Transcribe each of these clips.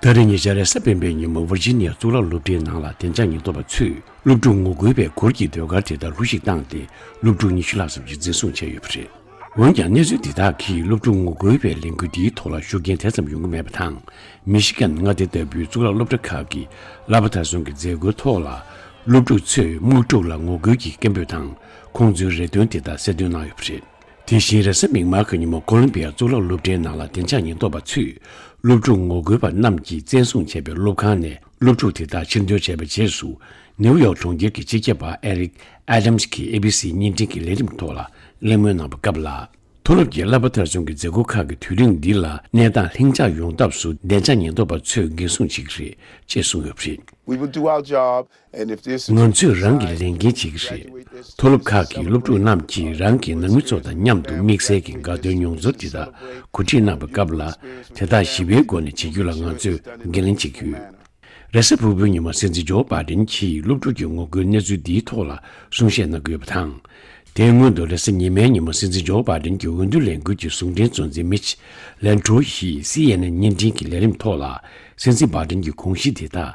ད་རེས་ཉེ་ཆར་རེས་གཟའ་སྤེན་པའི་ཉིན་མོ་ཝེར་ཇི་ནི་ཡ་གཙུག་ལག་སློབ་གྲྭའི་ནང་ལ་བདེ་འཇགས་ཉེན་རྟོག་པ་ཚོས་སློབ་ཕྲུག་ངོ་རྒོལ་བའི་སྐོར་གྱི་ཟློས་གར་དེ་ལྟར་ལྷུ་བཞིག་བཏང་སྟེ་སློབ་ཕྲུག་ཉི་ཤུ་ལྷག་ཙམ་གྱིས་འཛིན་བཟུང་བྱས་ཡོད་པ་རེད། འོན་ཀྱང་གནས་ཚུལ་འདི་དག་གིས་སློབ་ཕྲུག་ངོ་རྒོལ་བའི་ལས་འགུལ་འདིའི་ཐོག་ལ་ཤུགས་རྐྱེན་དེ་ཙམ་ཡོང་གི་མེད་པ་དང། མི་ཤི་གན་མངའ་སྡེ་ལྟ་བུའི་གཙུག་ལག་སློབ་གྲྭ་ཁག་གི་གླ་པ་མཐའ་སྲུང་གི་མཛད་སྒོའི་ཐོག་ལ་སློབ་ཕྲུག་ཚོས་དམག་འཁྲུག་ལ་ངོ་རྒོལ་གྱི་སྐད་འབོད་དང་ཁོང་ཚོའི་རེ་འདུན་དེ་དག་གསལ་སྟོན་གནང་ཡོད་པ་རེད། དེ་བཞིན་རེས་གཟའ་མིག་དམར་གྱི་ཉིན་མོ་ཀོ་ལོམ་པི་ཡ་གཙུག་ལག་སློབ་གྲྭའི་ནང་ལ་བདེ་འཇགས་ཉེན་རྟོག་པ་ཚུད། སློབ་ཕྲུག་ངོ་རྒོལ་བ་རྣམས་ཀྱིས་བཙན་བཟུང་བྱས་པའི་སློབ་ཁང་ནས་སློབ་ཕྲུག་དེ་དག་ཕྱིར་འདོན་བྱས་པའི་རྗེས་སུ། ནེའུ་ཡོག་གྲོང་ཁྱེར་གྱི་སྤྱི་ཁྱབ་པ་ཨེ་རིག་ཨེ་དམས་ཀྱིས་ཨེ་བྷི་སི་བརྙན་འཕྲིན་གྱི་ལས་རིམ་ཐོག་ལ་གླེང་མོལ་གནང་བ་སྐབས་ལ། མཐོ་སློབ་ཀྱི་གླ་པ་ཐར་བྱུང་གི་མཛད་སྒོ་ཁག་གི་དུས་རིམ་འདི་ལ་གནས་སྟངས་ལྷིང་འཇགས་ཡོང་ཐབས་སུ་བདེ་འཇགས་ཉེན་རྟོག་པ་ཚོས་འགན་སྲུང་བྱེད་ཀྱི་རེད་ཅེས་གསུངས་ཡོད་པ་རེད། We will do our job ང་ཚོས་རང་གི་ལས་འགན་བྱེད་ཀྱི་རེད། མཐོ་སློབ་ཁག་གི་སློབ་ཕྲུག་རྣམས་ཀྱིས་རང་གི་ནང་མི་ཚོ་དང་མཉམ་དུ་དམིགས་བསལ་གྱི་དགའ་སྟོན་མྱོང་ཚོར་འདི་དག་གོ་སྒྲིག་གནང་བའི་སྐབས་ལ་དེ་དག་ཞི་བའི་སྒོ་ནས་བྱེད་རྒྱུ་ལ་ང་ཚོས་འགན་ལེན་བྱེད་ཀྱི་ཡོད། རེས་གཟའ་ཕུར་བུའི་ཉི་མ་སྲིད་འཛིན་ཇོ་པཱ་ཏན་གྱིས་སློབ་ཕྲུག་གི་ངོ་རྒོལ་གནས་ཚུལ་འདིའི་ཐོག་ལ་གསུང་བཤད་གནང་གི་ཡོད་པ་དང། དེའི་སྔོན་དུ་རེས་གཟའ་ཉི་མའི་ཉི་མ་སྲིད་འཛིན་ཇོ་པཱ་ཏན་གྱི་འོས་བསྡུ་ལས་འགུལ་གྱི་ཟུང་འབྲེལ་གཙོ་འཛིན་མིཆ་ལན་ཀྲོའུ་ཡིས་སི་ཡེ་ནན་བརྙན་འཕྲིན་གྱི་ལས་རིམ་ཐོག་ལ་སྲིད་འཛིན་པཱ་ཏན་གྱི་དགོངས་གཞི་འདི་དག་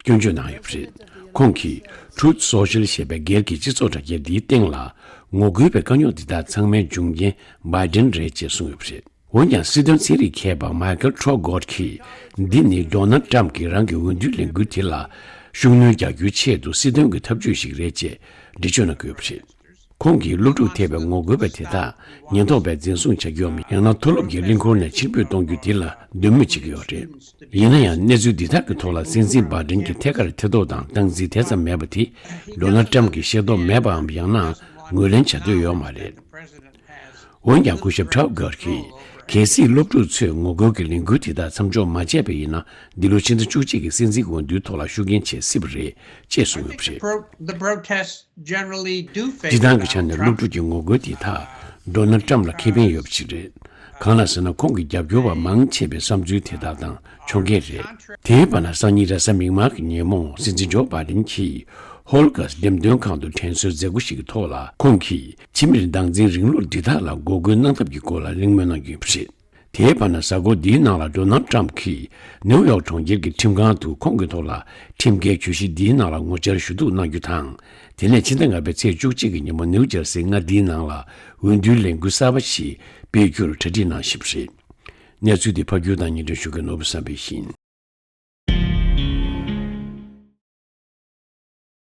སྐྱོན་བརྗོད་གནང་ཡོད་པ་རེད། ཁོང་གིས Truth Social ཞེས་པའི་སྒེར་གྱི་སྤྱི་ཚོགས་དྲ་རྒྱ་འདིའི་སྟེང་ལ། ངོ་རྒོལ་བའི་དཀའ་རྙོག་འདི་དག་ཚང་མའི་འབྱུང་རྐྱེན Biden རེད་ཅེས་གསུངས་ཡོད་པ་རེད། འོན་ཀྱང་སྲིད་དོན་ཚན་རིག་མཁས་པ Michael Traugott གིས་འདི་ནི Donald Trump གིས་རང་གི་འོས་བསྡུའི་ལས་འགུལ་དེ་ལ་ཤུགས་སྣོན་རྒྱག་རྒྱུའི་ཆེད་དུ་སྲིད་དོན་གྱི་ཐབས་ཇུས་ཤིག་རེད་ཅེས་འགྲེལ་བརྗོད་གནང་གི་ཡོད་པ་རེད། ཁོང་གིས་སློབ་ཕྲུག་ཐེ་བའི་ངོ་རྒོལ་བ་དེ་དག་ཉེན་རྟོག་པས་འཛིན་བཟུང་བྱ་རྒྱུའམ་ཡང་ན་མཐོ་སློབ་ཀྱི་གླིང་སྐོར་ནས་ཕྱིར་འབུད་གཏོང་རྒྱུ་དེ་ལ་འདོད་མོས་བྱེད་ཀྱི་ཡོད་རེད། ཡིན་ན་ཡང་གནས་ཚུལ་འདི་དག་གི་ཐོག་ལ་སྲིད་འཛིན་པར་སྒྲེང་གིས་ཐད་ཀར་ཐེ་གཏོགས་དང་སྟངས་འཛིན་དེ་ཙམ་མེད་པ་དེ Donald Trump གིས་ཤེས་རྟོགས་མེད་པའམ་ཡང་ན་ངོས་ལེན་བྱ་འདོད་ཡོད་མ་རེད། འོན་ཀྱང་སྐུ་ཞབས Trauger གིས་གལ་སྲིད་སློབ་ཕྲུག་ཚོས་ངོ་རྒོལ་གྱི་ལས་འགུལ་དེ་དག་མཚམས་འཇོག་མ་བྱས་པ་ཡིན་ན་འདི་ལོ་ཕྱི་ཟླ་བཅུ་གཅིག་གི་སྲིད་འཛིན་དགོངས་འདུན་ཐོག་ལ་ཤུགས་རྐྱེན་བྱེད་སྲིད་པ་རེད་ཅེས་གསུངས་ཡོད་པ་རེད། སྤྱི་བཏང་གི་ཆ་ནས་སློབ་ཕྲུག་གི་ངོ་རྒོལ་དེ་དག་འདོན་ན་ཀྲམ་ལ་ཁེ་ཕན་ཡོད་པ་ཞིག་རེད། གང་ལ་ཟེར་ན་ཁོང་གི་རྒྱབ་སྐྱོར་བ་མང་ཆེ་བའི་བསམ་ཚུལ་དེ་དག་དང་མཆོང་མཁན་རེད། དེའི་བར་ན་སང་ཉིན་ར་ས་མིག་དམར་གྱི་ཉིན་མོ་སྲིད་འཛིན་ཇོ་པཱ་དིན་གྱིས་ཧོལ་དགའས་འགྲེམས་སྟོན་ཁང་དུ་དྲན་གསོའི་མཛད་སྒོ་ཞིག་གི་ཐོག་ལ་ཁོང་གིས་ཕྱི་མིར་སྡང་འཛིན་རིང་ལུགས་འདི་དག་ལ་འགོག་རྒོལ་གནང་ཐབས་ཀྱི་སྐོར་ལ་གླེང་མོལ་གནང་རྒྱུ་ཡིན་པ་རེད། དེའི་བར་ན་གཟའ་འཁོར་འདིའི་ནང་ལ་སྒྲོ་ནང་ཀྲམ་གྱིས་ནེའུ་ཡོག་གྲོང་ཁྱེར་གྱི་ཁྲིམས་ཁང་དུ་ཁོང་གི་ཐོག་ལ་ཁྲིམས་འགལ་གྱོད་གཞི་འདིའི་ནང་ལ་ངོ་བཅར་ཞུ་གཏུག་གནང་རྒྱུ་དང། དེ་ནས་ཕྱི་ཟླ་ལྔ་པའི་ཚེས་བཅུ་གཅིག་གི་ཉིན་མོ་ནེའུ་ཇར་སིའི་མངའ་སྡེའི་ནང་ལ་འོས་བསྡུའི་ལས་འགུལ་གསར་པ་ཞིག་སྤེལ་རྒྱུར་གྲ་སྒྲིག་གནང་བཞིན་པ་རེད། གནས་ཚུལ་འདི་ཕ་རྒྱུད་དང་ཉེ་འབྲེལ་ཞུ་མཁན་ནོར་བུ་བསམ་འཕེལ་ཡིན།